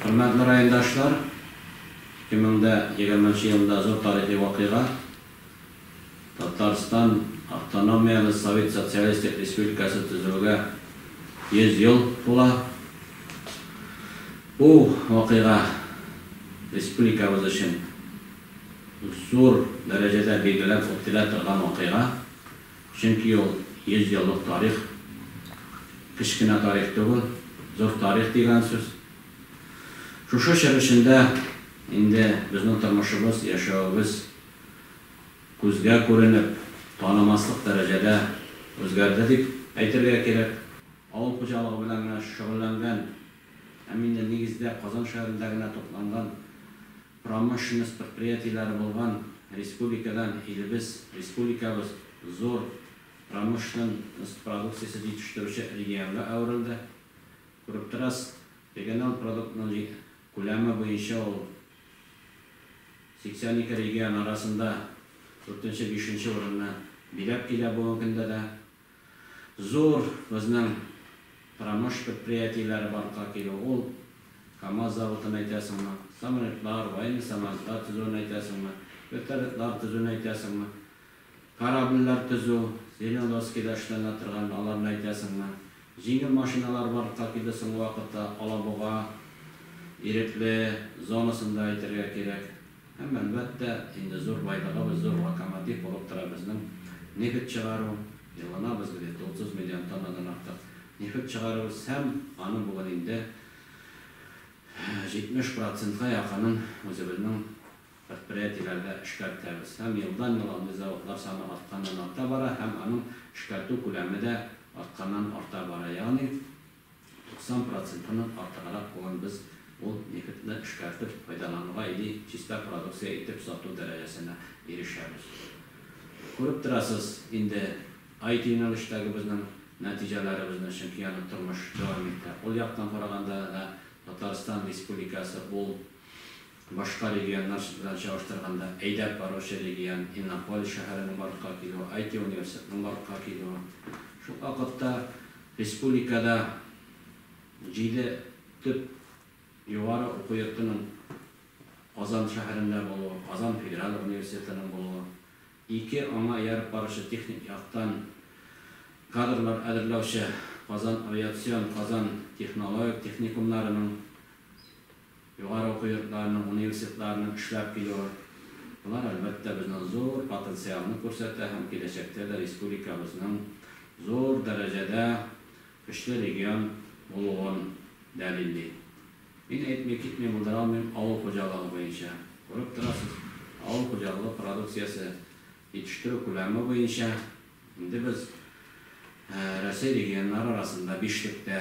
Хөрмәтле райондашлар, 2020 елында зур тарихи вакыйга, Татарстан автономияле Совет Социалистик Республикасы төзелүгә 100 ел тула. Бу вакыйга республикабыз өчен зур дәрәҗәдә билгеләп үтелә торган вакыйга. Чөнки ул, йөз еллык тарих, кечкенә тарих түгел, зур тарих дигән сүз. Шушы чор эчендә инде безнең тормышыбыз, яшәвебез күзгә күренеп, танымаслык дәрәҗәдә үзгәрде дип әйтергә кирәк. Авыл хуҗалыгы белән генә шөгыльләнгән һәм инде нигездә Казан шәһәрендә генә тукланган, Промышленность предприятиеләре булган республикадан илебез, республикабыз зур промышленность продукциясе җитештерүче регионга әверелде. Күреп торасыз, региональ продуктның күләме буенча ул 82 регион арасында дүртенче-бишенче урынны биләп килә бүгенге көндә дә. Зур безнең промыш предприятиеләре барлыкка килү ул, КАМАЗ заводын әйтәсеңме, самолетлар, военный самолетлар төзүен әйтәсеңме, вертолетлар төзүен әйтәсеңме, корабльләр төзү, Зеленодольскида эшләнә торган, аларны әйтәсеңме. Җиңел машиналар барлыкка килде соңгы вакытта, Алабуга ирекле зонасында әйтергә кирәк. Һәм, әлбәттә, инде зур байлыгыбыз, зур локомотив булып тора безнең нефть чыгару. Елына без где-то 30 миллион тоннадан артык нефть чыгарабыз һәм аның бүген инде 70 процентка якынын үзебезнең предприятиеләрдә эшкәртәбез. Һәм елдан-ел андый заводлар саны артканнан-арта бара һәм аның эшкәртү күләме дә артканнан-арта бара. Ягъни. 90 процентыннан артыграк булган без ул нефтьне эшкәртеп файдалануга или чиста продукция итеп сату дәрәҗәсенә ирешәбез. Күреп торасыз инде IT-юнәлештәге безнең нәтиҗәләребезне, чөнки аны тормыш дәвам итә. Ул яктан караганда да Татарстан Республикасы ул. Башка регионнар белән чагыштырганда әйдәп баручы регион, Иннополис шәһәренең барлыкка килүе, IT-университетның барлыкка килүе. Шул ук вакытта республикада җиде төп югары уку йортының Казан шәһәрендә булуы, Казан федераль университетының булуы, ике аңа ияреп баручы техник яктан кадрлар әзерләүче Казан авиацион, Казан технологик техникумнарының Югары уку йортларының, университетларының көчләп килүе, болар, әлбәттә, безнең зур потенциалны күрсәтә һәм киләчәктә дә республикабызның зур дәрәҗәдә көчле регион булуын дәлилли. Мин әйтми, китми булдыра алмыйм авыл хуҗалыгы буенча. Күреп торасыз, авыл хуҗалыгы продукциясе җитештерү күләме буенча инде без Россия регионнары арасында бишлектә.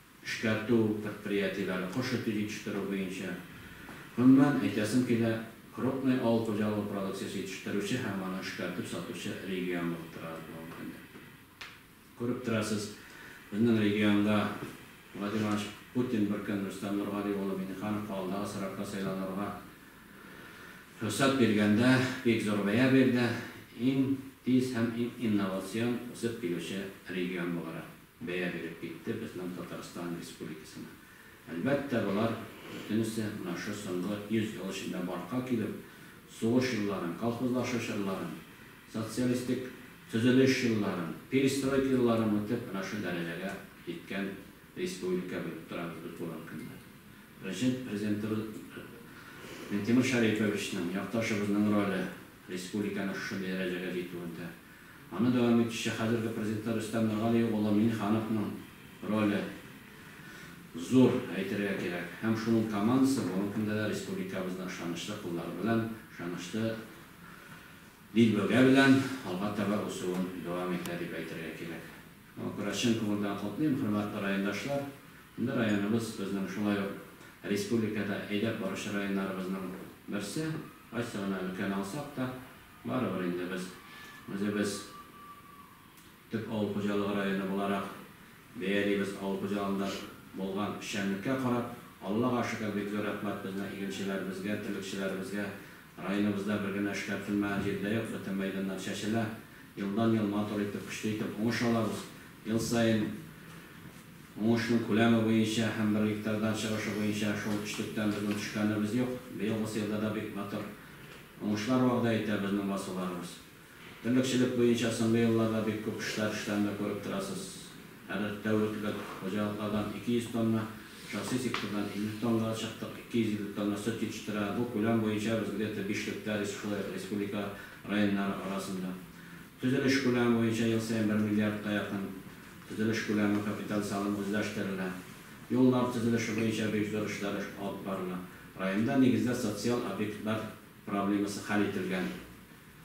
эшкәртү предприятиеләре, кош эте җитештерү буенча. Гомумән, әйтәсем килә, крупный авыл хуҗалыгы продукциясе җитештерүче һәм аны эшкәртеп сатучы регион булып тора без бүгенге көндә. Күреп торасыз, безнең регионда Владимир Иванович Путин бер көн Рөстәм Нургали улы Миңнехановка алдагы срокта сайланырга рөхсәт биргәндә бик зур бәя бирде, иң тиз һәм иң инновацион үсеп килүче регион буларак. бәя биреп китте безнең Татарстан Республикасына. Әлбәттә, болар бөтенесе менә шо соңгы 100 ел эчендә бартка килеп, сугыш елларын, колхозлашу чорларын, социалистик төзелеш елларын, перестройка елларын үтеп, менә шо дәрәҗәгә җиткән республика белеп торабыз без бүгенге көндә. Беренче Президентыбыз Минтимер Шәриповичның, якташыбызның роле республиканың шушы дәрәҗәгә җитүендә. Аны дәвам итүче хәзерге президентлар Рөстәм Миргалиев улы Миңнехановның роле зур, әйтергә кирәк. Һәм шуның командасы бүгенге көндә дә республикабызны ышанычлы куллары белән, ышанычлы дилбегә белән алга таба үсүен дәвам итә, дип әйтергә кирәк. Шуңа күрә чын күңелдән котлыйм, хөрмәтле райондашлар. Инде районыбыз безнең шулай ук республикада әйдәп баручы районнарыбызның берсе, кайсы гына өлкәне алсак та, Барыбер инде без үзебез төп авыл хуҗалыгы районы буларак бәялибез. Авыл хуҗалыгында булган эшчәнлеккә карап, Аллага шөкер, бик зур рәхмәт безнең игенчеләребезгә, терлекчеләребезгә. Районыбызда бер генә эшкәртелмәгән җир дә юк, бөтен мәйданнар чәчелә. Елдан-ел матур итеп, көчле итеп уңыш алабыз. Ел саен уңышның күләме буенча һәм бер гектардан чыгышы буенча шул өчлектән безнең төшкәнебез юк. Быелгысы елда да бик матур. Уңышлар вәгъдә итә безнең басуларыбыз. Терлекчелек буенча соңгы елларда бик күп эшләр эшләнүен дә күреп торасыз. Хәзер тәүлеклек хуҗалыклардан 200 тонна, шәхси сектордан 50 тоннага чыктык, 250 тонна сөт җитештерә. Бу күләм буенча безнеке бишлектә, шулай ук республика районнары арасында. Төзелеш күләме буенча ел саен бер миллиардка якын төзелеш күләме капиталь салым үзләштерелә. Юллар төзелеше буенча бик зур эшләр алып барыла. Районда нигездә социаль объектлар проблемасы хәл ителгән.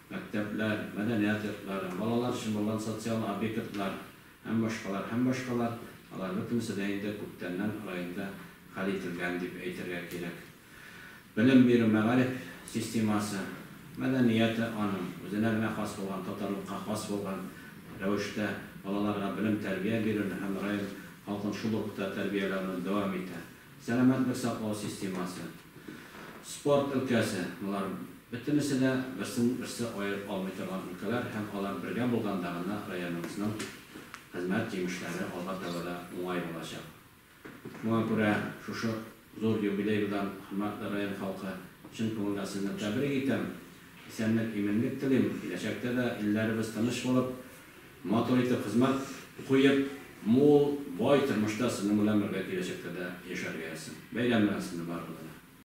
Мәктәпләр, мәдәният йортлары, балалар өчен булган социаль объектлар һәм башкалар, һәм башкалар, алар бөтенесе дә инде күптәннән районда хәл ителгән дип әйтергә кирәк. Белем бирү, мәгариф системасы, мәдәнияте аның, үзенә генә хас булган, татарлыкка хас булган рәвештә балаларга белем-тәрбия бирүне һәм район халкын шул рухта тәрбияләүне дәвам итә. Сәламәтлек саклау системасы, спорт өлкәсе, болар бөтенесе дә берсен-берсе аерып алмый торган өлкәләр һәм алар бергә булганда гына районыбызның хезмәт җимешләре алга таба да уңай булачак. Шуңа күрә шушы зур юбилей белән кунакны район халкы чын күңелдән сезне тәбрик итәм. Исәнлек, иминлек телим. Киләчәктә дә илләребез тыныч булып, матур итеп хезмәт куеп, мул, бай тормышта сезнең белән бергә киләчәктә дә яшәргә язсын. Бәйрәм белән сезне барыгызны да!